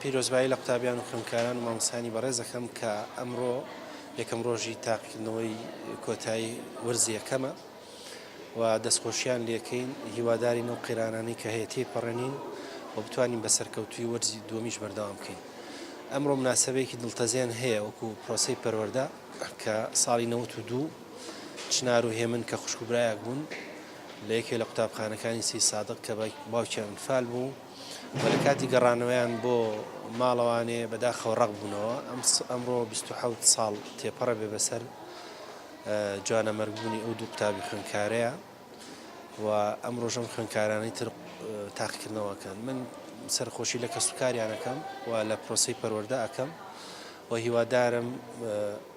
پیرۆزبایی لە قوتابیان و خوێندکاران و مامۆستایانی بەڕێز دەکەم کە ئەمڕۆ یەکەم ڕۆژی تاقیکردنەوەی کۆتایی وەرزی یەکەمە و دەستخۆشیان لەکەین هیوادارین ئەو قەیرانانەی کە هەیە تێپەڕێنین و بتوانین بە سەرکەوتوی وەرزی دووەمیش بەردەوام بکەین ئەمڕۆ مناسبەیەکی دڵتەزێن هەیە وەکو پرۆسی پەروەردە کە ساڵی نەوەت و دوو چنار و هێمن کە خوشک و برایەک بوون لە یەکێ لە قوتابخانەکانی سی سادق کە باوکیان فال بوو و لە کاتی گەڕانەوەیان بۆ ماڵەوانێ بەداخەوە ڕق بوونەوە ئەم ئەمڕۆ 26 ساڵ تێپەڕە بێ بەسەر جوانە مەرگبوونی ئەو دوو قوتابی خوێنکارەیە و ئەم ڕۆژەم خوێنکارانی تر تاقیکردنەوەکەن من سەرخۆشی لە کەس و کاریانەکەم و لە پرۆسی پەروەەردە ئەەکەم و هیوادارم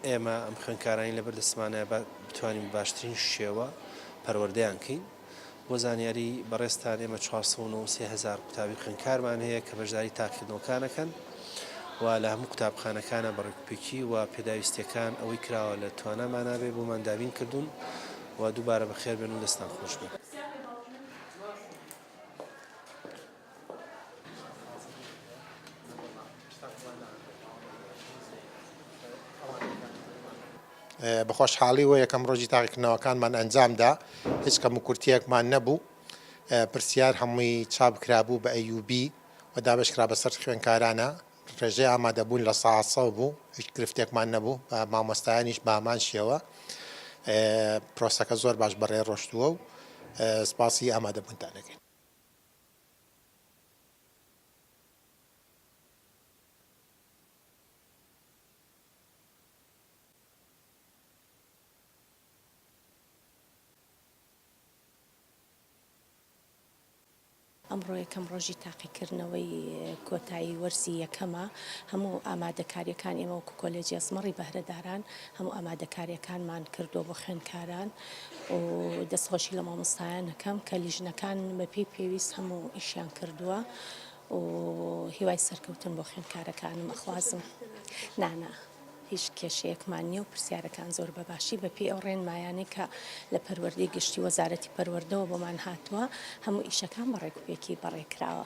ئێمە ئەم خوێنکارانی لە بەردەسمانە بتوانین بە باشترین شێوە پەروەردەیان کەین. بۆ زانیاری بەڕێزتان ئێمە چوار سەد و نۆ و سێ هەزار قوتابی خوێندکارمان هەیە کە بەشداری تاقیکردنەوەکان ئەکەن و لە هەموو قوتابخانەکانە بە ڕێکوپێکی و پێداویستییەکان ئەوەی کراوە لە توانامانا بێ بۆمان دابین کردوون و دووبارە بەخێربێن و دەستتان خۆشبێ. بە خۆشحاڵی و یەکەم ڕۆژی تاقیکردنەوەکانمان ئەنجامدا هیچ کەم و کورتیەکمان نەبوو پرسیار هەمووی چاپکرابوو بە ئەیوبی و دابشکرا بەسەر خوێنکارانە ڕێژەی ئامادەبوون لە ساسە بوو هیچ گرفتێکمان نەبوو بە مامۆستایانیش بامان شێوە پرۆسەکە زۆر باش بەڕێ ڕۆشتووە و سپاسی ئامادەبوونتانەکەین. ئەمڕۆ یەکەم ڕۆژی تاقیکردنەوەی کۆتایی وەرزی یەکەمە هەموو ئامادەکاریەکان ئێمە وەکو کۆلێجی ئەسمەڕی بەهرەداران هەموو ئامادەکاریەکانمان کردووە بۆ خوێندکاران. و دەست خۆشی لە مامۆستایان نەکەم کە لیژنەکان بەپی پێویست هەموو ئیشیان کردووە و هیوای سەرکەوتن بۆ خوێندکارەکانم ئەخوازم نانا. هیچ کێشەیەکمان نییە و پرسیارەکان زۆر بەباشی بەپی ئەو ڕێنمایانەی کە لە پەروەردەی گشتی وەزارەتی پەروەردەوە بۆمان هاتووە هەموو ئیشەکان بەڕێکوپێکی بەڕێکراوە.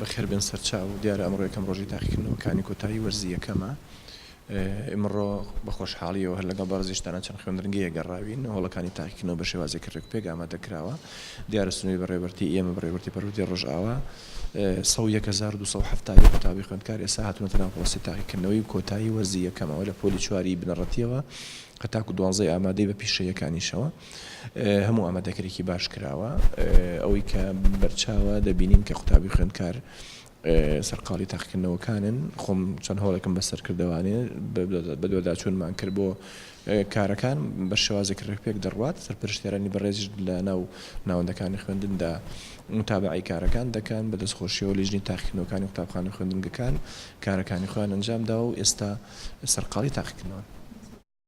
بەخێر بێن سەرچاو، دیارە ئەمڕۆ یەکەم ڕۆژی تاقیکردنەوەکانی کۆتایی وەرزی یەکەمە، ئیمڕۆ بە خۆشحاڵیەوە هەر لەگەڵ بەڕێزیشتانا چەند خوێندنگەیەک گەڕاوین، هۆڵەکانی تاقیکردنەوە بە شێوازێکی ڕێکوپێک ئامادە کراوە، دیارە سنووری بەڕێوەبەرتیی ئێمە، بەڕێوەبەرتیی پەروەردەی ڕۆژئاوا سەد و یەک هەزار و دوو سەد و حەفتا و یەک قوتابی خوێندکار ئێستا هاتوونەتە ناو پڕۆسەی تاقیکردنەوەی کۆتایی وەرزی یەکەمەوە لە پۆلی چواری بنەڕەتییەوە هەتاکوو دوانزەی ئامادەی بە پیشەییەکانیشەوە. هەموو ئامادەکریکی باش کراوە. ئەوەی کە بەرچاوە دەبینین کە قوتابی خوێندکار سەرقاڵی تاقیکردنەوەکانن خۆم چەند هەوڵێکم بە سەرکردەوانێ بەدواداچوونمان کرد بۆ کارەکان بە شێوازێک ڕێکپێک دەڕوات سەرپەرشتێرانی بەڕێزیش لە ناو ناوەندەکانی خوێندندا متابعی کارەکان دەکەن بە دەستخۆشیەوە لیژنی تاقیکردنەوەکانی قوتابخانە خوێندنگەکان کارەکانی خۆیان ئەنجامدا و ئێستا سەرقاڵی تاقیکردنەوەن.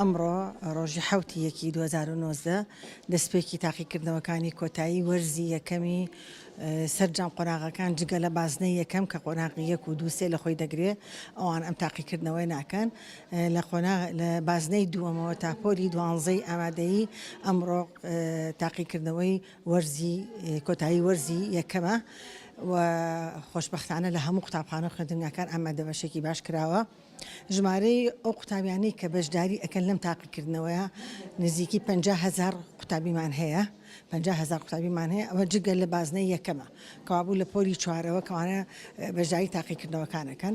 ئەمڕۆ ڕۆژی حوتی یەکی 2009 دەستپێکی تاقیکردنەوەکانی کۆتایی وەرزی یەکەمی سەرجەم قۆناغەکان جگە لە بازنەی یەکەم کە قۆناغی یەک و دووسێ لە خۆی دەگرێ ئەوان ئەم تاقیکردنەوەی ناکەن لە قۆناغ لە بازنەی دووەمەوە تا پۆلی دوانزەی ئامادەیی ئەمڕۆ تاقیکردنەوەی وەرزی کۆتایی وەرزی یەکەمە و خۆشببختانە لە هەموو قوتابخانە خوێندنگاکان ئامادە بەشێکی باش کراوە ژمارەی ئەو قوتابیانی کە بەشداری ئەکەن لەم تاقیکردنەوەیە نزیکی 500هزار قوتابیمان هەیە پەنجا هەزار قوتابیمان هەیە، ئەمە جگە لە بازنەی یەکەمە، کەوابوو لە پۆلی چوارەوە کەوانە بەشداری تاقیکردنەوەکان ئەکەن.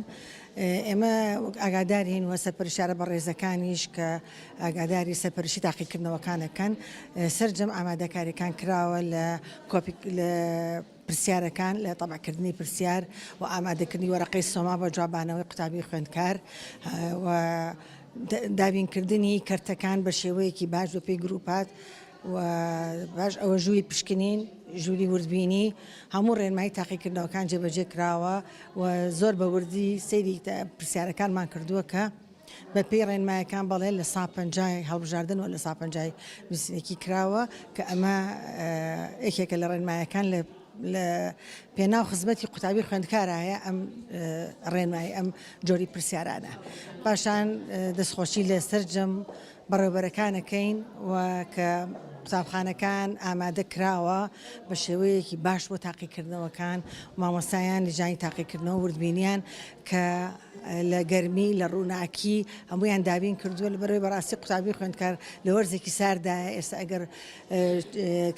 ئێمە وەک ئاگادارین و سەرپەرشتیارە بەڕێزەکانیش کە ئاگاداری سەرپەرشتی تاقیکردنەوەکان ئەکەن، سەرجەم ئامادەکاریەکان کراوە لە پرسیارەکان لە تەبعکردنی پرسیار و ئامادەکردنی وەرەقەی سۆما بە جوابانەوەی قوتابی خوێندکار و دابینکردنی کەرتەکان بە شێوەیەکی باش بەپێی گروپات و پاش ئەوە ژووری پشکنین، ژووری وردبینی، هەموو ڕێنمایی تاقیکردنەوەکان جێبەجێ کراوە و زۆر بە وردی سەیری پرسیارەکانمان کردووە کە بە پێی ڕێنمایەکان بەڵێ لە سا پەنجای هەڵبژاردن و لە سا پەنجای نووسینێکی کراوە کە ئەمە یەکێکە لە ڕێنمایەکان لە لە پێناو خزمەتی قوتابی خوێندکارایە ئەم ڕێنمایی ئەم جۆری پرسیارانە پاشان دەستخۆشی لە سەررجەم بەڕێوەبەرەکانەکەین و کە قوتابخانەکان ئامادە کراوە بە شێوەیەکی باش بۆ تاقیکردنەوەکان مامۆستایان لەجانی تاقیکردنەوە وردبینیان کە لە گەرمی لە ڕووناکی هەمویان دابین کردووە لە بەرەوەی بەڕاستی قوتابی خوێندکار لە وەرزێکی ساردا ئێستا ئەگەر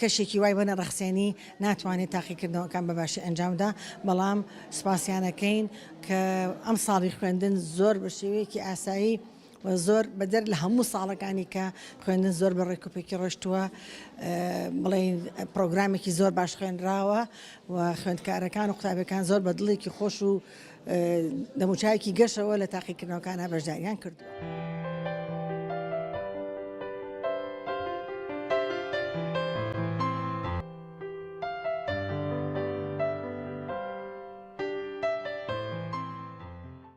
کەشێکی وای بەە ڕخسێنی ناتوانێت تاقیکردنەوەکان بەباشی ئەنجامدا بەڵام سپاسیانەکەین کە ئەم ساڵی خوێندن زۆر بە شێوەیەکی ئاسایی و زۆر بەدەر لە هەموو ساڵەکانی کە خوێندن زۆر بە ڕێکوپێکی ڕۆشتووە بڵێن پرۆگرامێکی زۆر باش خوێنراوە و خوێندکارەکان و قوتابەکان زۆر بە دڵێکی خۆش و دەموچایەکی گەشەوە لە تاقیکردنەوەکانە بەشداریان کردووە.